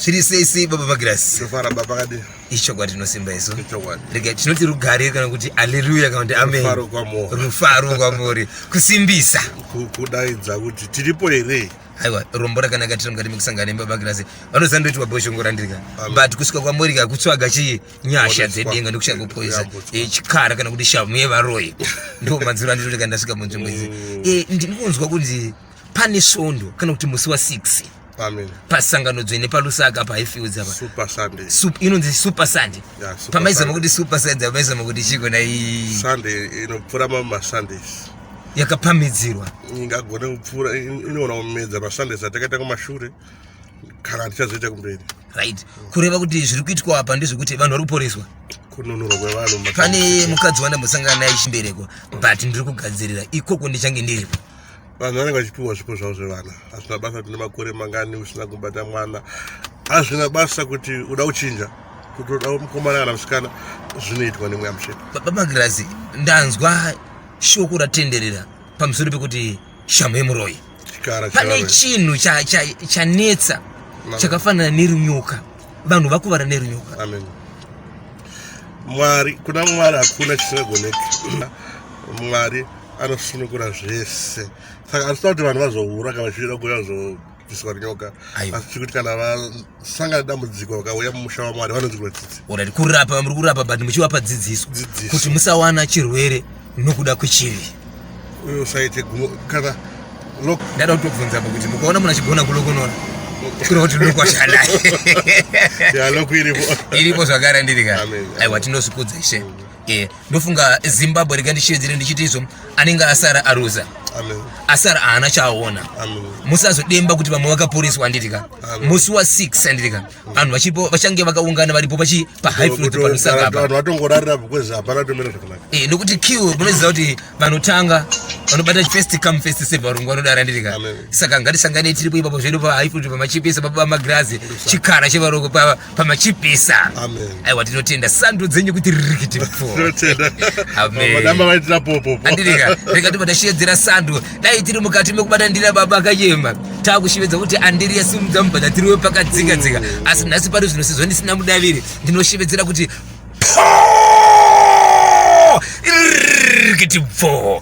zviri sei sei baba magirasi ichokwadi tinosimba isu rega tinoti rugare kana kuti aleluya kana kuti amen rufaro kwamuri kusimbisa kudaidza kuti tiripo here aiwa rombo rakanaka tiri mukati mekusangana nebaba girasi vanoziva ndoitwa boshongora ndirika but kusvika kwamuri ka kutsvaga chii nyasha dzedenga ndokushaya kupoisa eh, chikara kana kuti shamu yevaroyi ndo manziro andinotika ndasvika munzvimbo idzi mm. eh, ndiri kunzwa kunzi pane svondo kana kuti musi wa 6 pasangano dzvene palusaka pahifields apa inonzi super sunday pamaizama kuti super sunday pamaizama kuti chiko nai inopfura mamwe masundays yakapamidzirwa ingagone kupfura inoona kumedza masundays atakaita kumashure kana tichazoita kumberi right kureva kuti zviri kuitwa apa ndezvekuti vanhu vari kuporeswa kununurwa kwevanhu pane mukadzi wandambosangana naye chimbereko but ndiri kugadzirira ikoko ndichange ndiripo vanhu vanenge vachipiwa zvipo zvavo zvevana hazvina basa kuti nemakore mangani usina kubata mwana hazvina basa kuti uda kuchinja kuti uda mukomana kana musikana zvinoitwa nemweya mutsvene babagirazi ndanzwa shoko ratenderera pamusoro pekuti shamhu yemuroyi pane chinhu chanetsa chakafanana nerunyoka vanhu vakuvara nerunyoka mwari kuna mwari hakuna chisingagoneki mwari anosunukura zvese saka anosida kuti vanhu vazohura kana vachida kuuya zobviswa nyoka asi chikuti kana vasangana dambudziko vakauya mumusha wamwari vanonzirwa tsitsi orit kurapa muri kurapa but muchivapa dzidziso kuti musawana chirwere nokuda kwechivi uyo usaite gumo kana ndada kutobvunza pakuti mukaona munhu achigona kulokonora kuri kuti ndokwashanaye iripo zvakare ndiri ka aiwa tinosikudza ishe Eh, ndofunga zimbabwe rega ndichiedzere ndichiti izvo anenge asara aruza asara haana chaaona musazodemba kuti vamwe vakaporeswa anditika musi wa 6 anditika vanhu vachipo vachange vakaungana varipo pachi pahighflotpanosangapavanhu nokuti q munoziva kuti vanotanga vanobata first come first save varungu vanodara anditika saka ngatisangane tiripo ipapo zvedu pahighflot pamachipisa pabamagirazi chikara chevaroko pava pamachipisa aiwa tinotenda sando dzenyu kuti rikiti mfoadirikatikati patashiyedzera sando dai tiri mukati mekubata ndira baba akayema takushivedza kuti andiri yasimudza mubhadha tiriwe pakadzika dzika asi nhasi pari zvino sezvo ndisina mudaviri ndinoshevedzera kuti rikiti pfoo